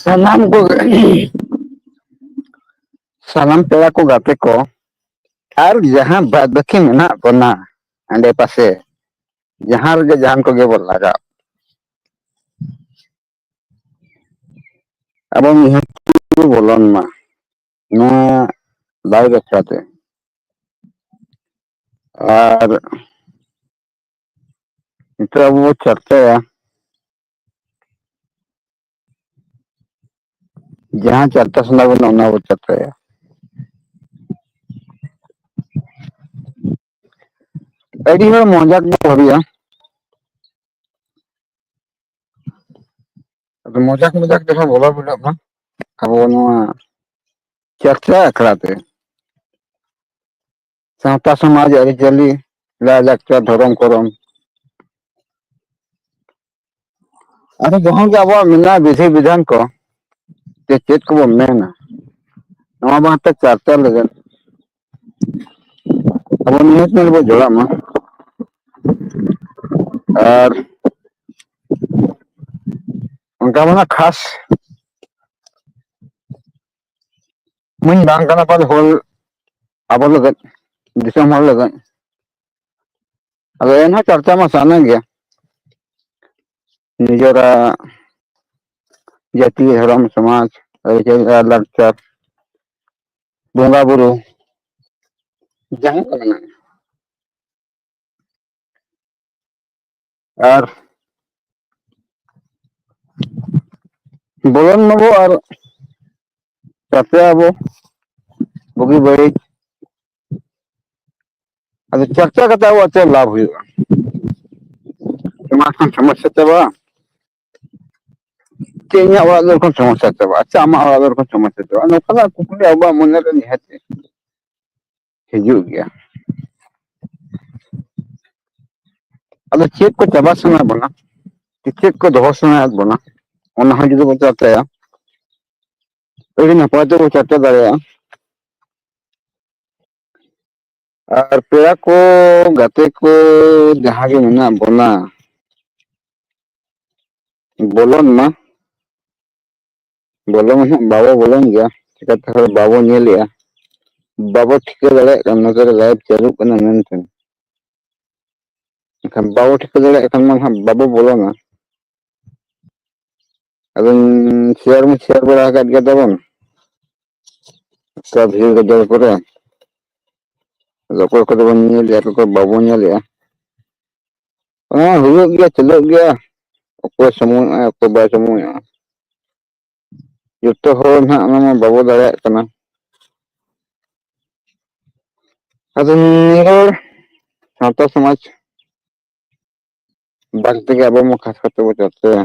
ᱥᱟᱱᱟᱢ ᱠᱚ ᱥᱟᱱᱟᱢ ᱯᱮᱲᱟ ᱠᱚ ᱜᱟᱛᱮ ᱠᱚ ᱟᱨ ᱡᱟᱦᱟᱸ ᱵᱟᱫᱽ ᱵᱟᱹᱠᱤ ᱢᱮᱱᱟᱜ ᱵᱚᱱᱟ ᱟᱸᱰᱮ ᱯᱟᱥᱮ ᱡᱟᱦᱟᱸ ᱨᱮᱜᱮ ᱡᱟᱦᱟᱱ ᱠᱚᱜᱮ ᱵᱚᱱ ᱞᱟᱜᱟᱣ ᱟᱵᱚ ᱢᱤᱫ ᱵᱚᱞᱚᱱ ᱢᱟ ᱱᱚᱣᱟ ᱞᱟᱭ ᱵᱟᱠᱷᱨᱟ ᱛᱮ ᱟᱨ ᱱᱤᱛᱚᱜ ᱟᱵᱚ ᱵᱚ ᱪᱟᱨᱪᱟᱭᱟ ᱡᱟᱦᱟᱸ ᱪᱟᱨᱪᱟ ᱥᱟᱱᱟ ᱵᱚᱱᱟ ᱚᱱᱟ ᱵᱚ ᱪᱟᱨᱪᱟᱭᱟ ᱟᱹᱰᱤ ᱦᱚᱲ ᱢᱚᱡᱟ ᱜᱮᱠᱚ ᱵᱷᱟᱵᱤᱭᱟ ᱟᱫᱚ ᱢᱚᱡᱟᱠ ᱢᱚᱡᱟᱠ ᱡᱟᱦᱟᱸ ᱵᱚᱞᱚ ᱵᱷᱚᱜ ᱢᱟ ᱟᱵᱚ ᱱᱚᱣᱟ ᱪᱟᱨᱪᱟ ᱟᱠᱲᱟ ᱛᱮ ᱥᱟᱶᱛᱟ ᱥᱚᱢᱟᱡᱽ ᱟᱹᱨᱤᱪᱟᱹᱞᱤ ᱞᱟᱭᱼᱞᱟᱠᱪᱟᱨ ᱫᱷᱚᱨᱚᱢ ᱠᱚᱨᱚᱢ ᱟᱫᱚ ᱡᱟᱦᱟᱸ ᱜᱮ ᱟᱵᱚᱣᱟᱜ ᱢᱮᱱᱟᱜᱼᱟ ᱵᱤᱫᱷᱤ ᱵᱤᱫᱷᱟᱱ ᱠᱚ ᱡᱮ ᱪᱮᱫ ᱠᱚᱵᱚᱱ ᱢᱮᱱᱟ ᱱᱚᱣᱟ ᱵᱟᱨᱮᱛᱮ ᱪᱟᱨᱪᱟ ᱞᱟᱹᱜᱤᱫ ᱟᱵᱚ ᱱᱤᱦᱟᱹᱛ ᱧᱮᱞ ᱵᱚᱱ ᱡᱚᱲᱟᱜ ᱢᱟ ᱟᱨ ᱚᱱᱠᱟ ᱢᱟᱱᱟ ᱠᱷᱟᱥ ᱢᱟᱹᱧ ᱵᱟᱝ ᱠᱟᱱᱟ ᱯᱟᱞᱮ ᱦᱳᱞ ᱟᱵᱚ ᱞᱟᱹᱜᱤᱫ ᱫᱤᱥᱚᱢ ᱦᱚᱲ ᱞᱟᱹᱜᱤᱫ ᱟᱫᱚ ᱮᱱᱦᱚᱸ ᱪᱚᱨᱪᱟ ᱢᱟ ᱥᱟᱱᱟ ᱜᱮᱭᱟ ᱱᱤᱡᱮᱨᱟᱜ ᱡᱟᱹᱛᱤ ᱫᱷᱚᱨᱚᱢ ᱥᱚᱢᱟᱡᱽ ᱟᱹᱨᱤᱪᱟᱹᱞᱤ ᱟᱨ ᱞᱟᱠᱪᱟᱨ ᱵᱚᱸᱜᱟ ᱵᱩᱨᱩ ᱡᱟᱦᱟᱸ ᱠᱚ ᱢᱮᱱᱟᱜᱼᱟ ᱟᱨ ᱵᱚᱞᱚᱱ ᱢᱟᱵᱚ ᱟᱨ ᱜᱟᱛᱮ ᱟᱵᱚ ᱵᱩᱜᱤ ᱵᱟᱹᱲᱤᱡ ᱟᱫᱚ ᱪᱟᱨᱪᱟ ᱠᱟᱛᱮ ᱟᱵᱚᱣᱟᱜ ᱪᱮᱫ ᱞᱟᱵᱷ ᱦᱩᱭᱩᱜᱼᱟ ᱚᱱᱟ ᱠᱷᱟᱱ ᱥᱚᱢᱚᱥᱥᱟ ᱪᱟᱵᱟᱜᱼᱟ ᱪᱮᱫ ᱤᱧᱟᱹᱜ ᱚᱲᱟᱜ ᱫᱩᱣᱟᱹᱨ ᱠᱷᱚᱱ ᱥᱚᱢᱚᱥᱥᱟ ᱪᱟᱵᱟᱜᱼᱟ ᱟᱪᱪᱷᱟ ᱟᱢᱟᱜ ᱚᱲᱟᱜ ᱫᱩᱣᱟᱹᱨ ᱠᱷᱚᱱ ᱥᱚᱢᱚᱥᱥᱟ ᱪᱟᱵᱟᱜᱼᱟ ᱱᱚᱝᱠᱟᱱᱟᱜ ᱠᱩᱠᱞᱤ ᱟᱵᱚᱣᱟᱜ ᱢᱚᱱᱮᱨᱮ ᱱᱤᱦᱟᱹᱛ ᱦᱤᱡᱩᱜ ᱜᱮᱭᱟ ᱟᱫᱚ ᱪᱮᱫ ᱠᱚ ᱪᱟᱵᱟ ᱥᱟᱱᱟ ᱵᱚᱱᱟ ᱪᱮᱫ ᱠᱚ ᱫᱚᱦᱚ ᱥᱟᱱᱟᱭᱮᱫ ᱵᱚᱱᱟ ᱚᱱᱟ ᱦᱚᱸ ᱡᱩᱫᱤ ᱵᱚᱱ ᱪᱟᱨᱪᱟᱭᱟ ᱟᱹᱰᱤ ᱱᱟᱯᱟᱭ ᱛᱮᱵᱚ ᱪᱟᱨᱪᱟ ᱫᱟᱲᱮᱭᱟᱜᱼᱟ ᱟᱨ ᱯᱮᱲᱟ ᱠᱚ ᱜᱟᱛᱮ ᱠᱚ ᱡᱟᱦᱟᱸ ᱜᱮ ᱢᱮᱱᱟᱜ ᱵᱚᱱᱟ ᱵᱚᱞᱚᱱ ᱢᱟ ᱵᱚᱞᱚ ᱢᱟ ᱦᱟᱸᱜ ᱵᱟᱵᱚ ᱵᱚᱞᱚᱱ ᱜᱮᱭᱟ ᱪᱤᱠᱟᱛᱮ ᱦᱚᱲ ᱵᱟᱵᱚ ᱧᱮᱞᱮᱜᱼᱟ ᱵᱟᱵᱚ ᱴᱷᱤᱠᱟᱹ ᱫᱟᱲᱮᱭᱟᱜ ᱠᱟᱱᱟ ᱱᱚᱛᱮ ᱨᱮ ᱞᱟᱭᱤᱵᱷ ᱪᱟᱹᱞᱩᱜ ᱠᱟᱱᱟ ᱢᱮᱱᱛᱮ ᱮᱱᱠᱷᱟᱱ ᱵᱟᱵᱚ ᱴᱷᱤᱠᱟᱹ ᱫᱟᱲᱮᱭᱟᱜ ᱠᱷᱟᱱ ᱢᱟ ᱦᱟᱸᱜ ᱵᱟᱵᱚ ᱵᱚᱞᱚᱱᱟ ᱟᱫᱚᱧ ᱥᱮᱭᱟᱨ ᱢᱟᱧ ᱥᱮᱭᱟᱨ ᱵᱟᱲᱟ ᱟᱠᱟᱫ ᱜᱮ ᱛᱟᱵᱚᱱ ᱚᱠᱟ ᱵᱷᱤᱲ ᱜᱟᱡᱟᱲ ᱠᱚᱨᱮ ᱟᱫᱚ ᱚᱠᱚᱭ ᱠᱚᱫᱚ ᱵᱚᱱ ᱧᱮᱞᱮᱜᱼᱟ ᱚᱠᱚᱭ ᱠᱚ ᱵᱟᱵᱚᱱ ᱧᱮᱞᱮᱜᱼᱟ ᱦᱮᱸ ᱦᱩᱭᱩᱜ ᱜᱮᱭᱟ ᱪᱟᱹᱞᱩᱜ ᱜᱮᱭᱟ ᱚᱠᱚᱭ ᱥᱚᱢᱚᱭᱚᱜᱼᱟ ᱚᱠᱚᱭ ᱵᱟᱭ ᱥᱚᱢᱚᱭᱚᱜᱼᱟ ᱡᱚᱛᱚ ᱦᱚᱲ ᱱᱟᱦᱟᱜ ᱚᱱᱟ ᱢᱟ ᱵᱟᱵᱚ ᱫᱟᱲᱮᱭᱟᱜ ᱠᱟᱱᱟ ᱟᱫᱚ ᱱᱤᱭᱟᱹ ᱦᱚᱲ ᱥᱟᱶᱛᱟ ᱥᱚᱢᱟᱡᱽ ᱵᱟᱨ ᱛᱮᱜᱮ ᱟᱵᱚ ᱢᱟ ᱠᱷᱟᱥ ᱠᱟᱛᱮ ᱵᱚ ᱪᱚᱨᱪᱟᱭᱟ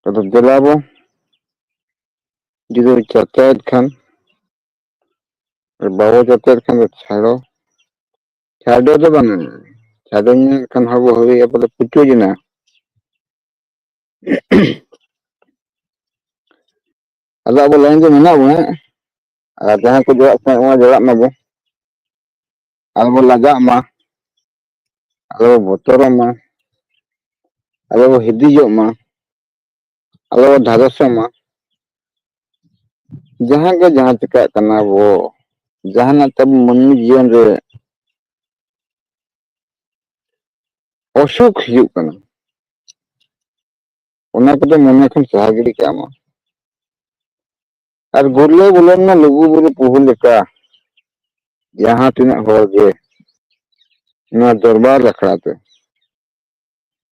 ᱟᱫᱚ ᱫᱮᱞᱟ ᱵᱚ ᱡᱩᱫᱤ ᱵᱚ ᱪᱚᱨᱪᱟᱭᱮᱫ ᱠᱷᱟᱱ ᱟᱨ ᱵᱟᱵᱚ ᱡᱚᱛᱮᱫ ᱠᱷᱟᱱ ᱫᱚ ᱪᱷᱟᱲᱚ ᱪᱷᱟᱰᱚ ᱫᱚ ᱵᱟᱝ ᱪᱷᱟᱰᱚ ᱧᱮᱞ ᱠᱷᱟᱱ ᱦᱚᱸ ᱵᱚ ᱦᱩᱭᱩᱜᱼᱟ ᱵᱚᱞᱮ ᱯᱩᱪᱩᱡ ᱮᱱᱟ ᱟᱫᱚ ᱟᱵᱚ ᱞᱟᱭᱤᱱ ᱨᱮ ᱢᱮᱱᱟᱜ ᱵᱚᱱᱟ ᱟᱨ ᱡᱟᱦᱟᱸ ᱠᱚ ᱡᱚᱲᱟᱜ ᱥᱟᱱᱟᱭᱮᱫ ᱵᱚᱱᱟ ᱡᱚᱲᱟᱜ ᱢᱟᱵᱚ ᱟᱞᱚ ᱵᱚ ᱞᱟᱡᱟᱜ ᱢᱟ ᱟᱞᱚ ᱵᱚ ᱵᱚᱛᱚᱨᱚᱜ ᱢᱟ ᱟᱞᱚ ᱵᱚ ᱦᱤᱫᱤᱡᱚᱜ ᱢᱟ ᱟᱞᱚ ᱫᱷᱟᱫᱚᱥᱚᱜ ᱢᱟ ᱡᱟᱦᱟᱸ ᱜᱮ ᱡᱟᱦᱟᱸ ᱪᱤᱠᱟᱹᱜ ᱠᱟᱱᱟ ᱵᱚ ᱡᱟᱦᱟᱱᱟᱜ ᱛᱟᱵ ᱢᱟᱹᱱᱢᱤ ᱡᱤᱭᱚᱱ ᱨᱮ ᱚᱥᱩᱠ ᱦᱤᱡᱩᱜ ᱠᱟᱱᱟ ᱚᱱᱟ ᱠᱚᱫᱚ ᱢᱚᱱᱮ ᱠᱷᱚᱱ ᱥᱟᱦᱟ ᱜᱤᱰᱤ ᱠᱟᱜ ᱢᱟ ᱟᱨ ᱜᱩᱨᱞᱟᱹ ᱵᱚᱞᱚᱱ ᱢᱟ ᱞᱩᱜᱩ ᱵᱩᱨᱩ ᱯᱩᱦᱩ ᱞᱮᱠᱟ ᱡᱟᱦᱟᱸ ᱛᱤᱱᱟᱹᱜ ᱦᱚᱲ ᱜᱮ ᱱᱚᱣᱟ ᱫᱚᱨᱵᱟᱨ ᱟᱠᱷᱲᱟ ᱛᱮ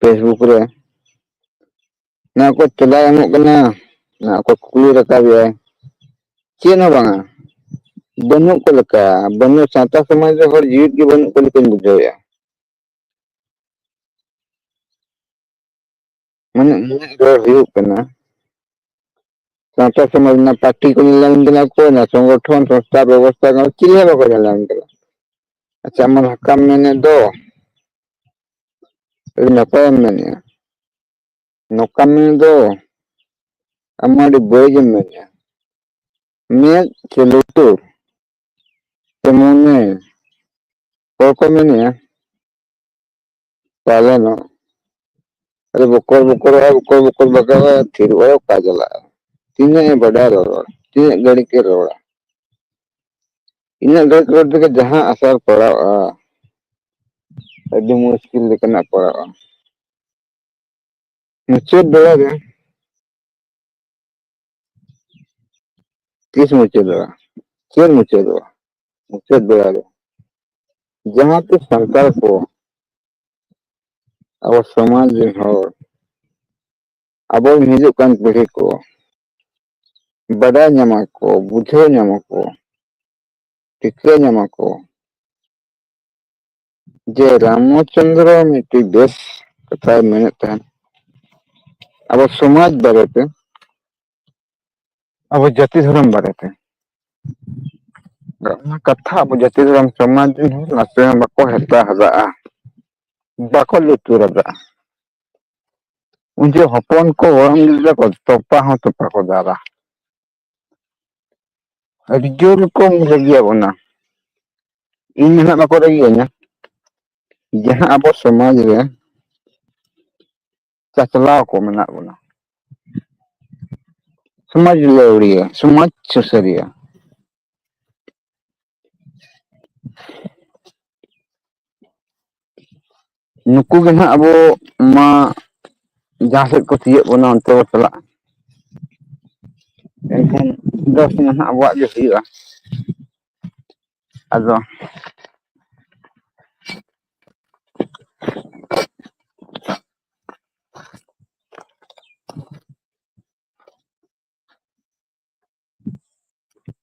ᱯᱷᱮᱥᱵᱩᱠ ᱨᱮ ᱚᱱᱟ ᱠᱚ ᱛᱮᱞᱟ ᱮᱢᱚᱜ ᱠᱟᱱᱟ ᱚᱱᱟ ᱠᱚ ᱠᱩᱠᱞᱤ ᱨᱟᱠᱟᱵ ᱮᱭᱟ ᱪᱮᱫ ᱦᱚᱸ ᱵᱟᱝᱟ ᱵᱟᱹᱱᱩᱜ ᱠᱚ ᱞᱮᱠᱟ ᱵᱟᱹᱱᱩᱜ ᱥᱟᱶᱛᱟ ᱥᱚᱢᱟᱡᱽ ᱨᱮ ᱦᱚᱲ ᱡᱤᱣᱤᱫ ᱜᱮ ᱵᱟᱹᱱᱩᱜ ᱠᱚ ᱞᱮᱠᱟᱧ ᱵᱩᱡᱷᱟᱹᱣᱮᱫᱼᱟ ᱢᱟᱱᱮ ᱤᱧᱟᱹᱜ ᱨᱚᱲ ᱦᱩᱭᱩᱜ ᱠᱟᱱᱟ ᱥᱟᱶᱛᱟ ᱥᱚᱢᱟᱡᱽ ᱨᱮᱱᱟᱜ ᱯᱟᱨᱴᱤ ᱠᱚ ᱧᱮᱞ ᱧᱟᱢ ᱠᱟᱱᱟ ᱠᱚ ᱚᱱᱟ ᱥᱚᱝᱜᱚᱴᱷᱚᱱ ᱥᱚᱝᱥᱛᱷᱟ ᱵᱮᱵᱚᱥᱛᱷᱟ ᱠᱚ ᱪᱤᱞᱤ ᱦᱚᱸ ᱵᱟᱠᱚ ᱧᱮᱞ ᱧᱟᱢ ᱠᱟᱱᱟ ᱟᱪᱪᱷᱟ ᱟᱢ ᱦᱟᱠᱟᱢ ᱢᱮᱱᱮᱫ ᱫᱚ ᱟᱹᱰᱤ ᱱᱟᱯᱟᱭᱮᱢ ᱢᱮᱱᱮᱫᱼᱟ ᱱᱚᱠᱟᱢ ᱢᱮᱱᱮᱫ ᱫᱚ ᱟᱢ ᱢᱟ ᱟᱹᱰᱤ ᱵᱟᱹᱲᱤᱡᱮᱢ ᱢᱮᱱᱮᱫᱼᱟ ᱢᱮᱫ ᱥᱮ ᱞᱩᱛᱩᱨ ᱥᱮ ᱢᱚᱱᱮ ᱦᱚᱲ ᱠᱚ ᱢᱮᱱᱮᱫᱼᱟ ᱛᱟᱦᱚᱞᱮ ᱱᱚ ᱟᱨᱮ ᱵᱚᱠᱚᱨ ᱵᱚᱠᱚᱨ ᱟᱨ ᱵᱚᱠᱚᱨ ᱵᱚᱠᱚᱨ ᱵᱟᱜᱟᱣ ᱟᱨ ᱛᱷᱤᱨ ᱵᱟᱲᱟ ᱚᱠᱟ ᱪᱟᱞᱟᱜᱼᱟ ᱛᱤᱱᱟᱹᱜ ᱮ ᱵᱟᱰᱟᱭ ᱨᱚᱲ ᱛᱤᱱᱟᱹᱜ ᱜᱷᱟᱹᱲᱤᱡ ᱮ ᱨᱚᱲᱟ ᱤᱱᱟᱹᱜ ᱜᱷᱟᱹᱲᱤᱡ ᱨᱚᱲ ᱛᱮᱜᱮ ᱡᱟᱦᱟᱸ ᱟᱥᱟᱨ ᱯᱟᱲᱟᱜᱼᱟ ᱟᱹᱰᱤ ᱢᱩᱥᱠᱤᱞ ᱞᱮᱠᱟᱱᱟᱜ ᱯᱟᱲᱟᱜᱼᱟ ᱢᱩᱪᱟᱹᱫ ᱵᱮᱲᱟ ᱨᱮ ᱛᱤᱥ ᱢᱩᱪᱟᱹᱫᱚᱜᱼᱟ ᱪᱮᱫ ᱢᱩᱪᱟᱹᱫᱚᱜᱼᱟ ᱢᱩᱪᱟᱹᱫ ᱵᱮᱲᱟ ᱨᱮ ᱡᱟᱦᱟᱸ ᱛᱤᱥ ᱥᱟᱱᱛᱟᱲ ᱠᱚ ᱟᱵᱚ ᱥᱚᱢᱟᱡᱽ ᱨᱮᱱ ᱦᱚᱲ ᱟᱵᱚ ᱦᱤᱡᱩᱜ ᱠᱟᱱ ᱯᱤᱲᱦᱤ ᱠᱚ ᱵᱟᱰᱟᱭ ᱧᱟᱢᱟ ᱠᱚ ᱵᱩᱡᱷᱟᱹᱣ ᱧᱟᱢᱟ ᱠᱚ ᱴᱷᱤᱠᱟᱹ ᱧᱟᱢᱟ ᱠᱚ ᱡᱮ ᱨᱟᱢᱚ ᱪᱚᱱᱫᱨᱚ ᱢᱤᱫᱴᱤᱡ ᱵᱮᱥ ᱠᱟᱛᱷᱟᱭ ᱢᱮᱱᱮᱫ ᱛᱟᱦᱮᱸᱱ ᱟᱵᱚ ᱥᱚᱢᱟᱡᱽ ᱵᱟᱨᱮ ᱛᱮ ᱟᱵᱚ ᱡᱟᱹᱛᱤ ᱫᱷᱚᱨᱚᱢ ᱵᱟᱨᱮ ᱛᱮ ᱚᱱᱟ ᱠᱟᱛᱷᱟ ᱟᱵᱚ ᱡᱟᱹᱛᱤ ᱫᱷᱚᱨᱚᱢ ᱥᱚᱢᱟᱡᱽ ᱨᱤᱱ ᱦᱚᱲ ᱱᱟᱥᱮ ᱦᱚᱸ ᱵᱟᱠᱚ ᱦᱟᱛᱟᱣ ᱦᱟᱫᱟᱜᱼᱟ ᱵᱟᱠᱚ ᱞᱩᱛᱩᱨ ᱟᱫᱟ ᱩᱱᱤ ᱡᱮ ᱦᱚᱯᱚᱱ ᱠᱚ ᱜᱚᱲᱚᱢ ᱜᱤᱫᱽᱨᱟᱹ ᱠᱚ ᱛᱚᱯᱟ ᱦᱚᱸ ᱛᱚᱯᱟ ᱠᱚ ᱫᱟᱞᱟ ᱟᱹᱰᱤ ᱡᱳᱨ ᱠᱚ ᱨᱟᱹᱜᱤᱭᱟ ᱵᱚᱱᱟ ᱤᱧ ᱱᱟᱦᱟᱜ ᱵᱟᱠᱚ ᱨᱟᱹᱜᱤᱭᱟᱹᱧᱟ ᱡᱟᱦᱟᱸ ᱟᱵᱚ ᱥᱚᱢᱟᱡᱽ ᱨᱮ ᱪᱟᱪᱞᱟᱣ ᱠᱚ ᱢᱮᱱᱟᱜ ᱵᱚᱱᱟ ᱥᱚᱢᱟᱡᱽ ᱞᱟᱹᱣᱲᱤᱭᱟᱹ ᱥᱚᱢᱟᱡᱽ ᱥᱩᱥᱟᱹᱨᱤᱭᱟᱹ ᱱᱩᱠᱩ ᱜᱮ ᱱᱟᱦᱟᱜ ᱟᱵᱚ ᱢᱟ ᱡᱟᱦᱟᱸ ᱥᱮᱫ ᱠᱚ ᱛᱤᱭᱳᱜ ᱵᱚᱱᱟ ᱚᱱᱛᱮ ᱵᱚ ᱪᱟᱞᱟᱜᱼᱟ ᱮᱱᱠᱷᱟᱱ ᱫᱚᱥ ᱢᱟ ᱦᱟᱸᱜ ᱟᱵᱚᱣᱟᱜ ᱜᱮ ᱦᱩᱭᱩᱜᱼᱟ ᱟᱫᱚ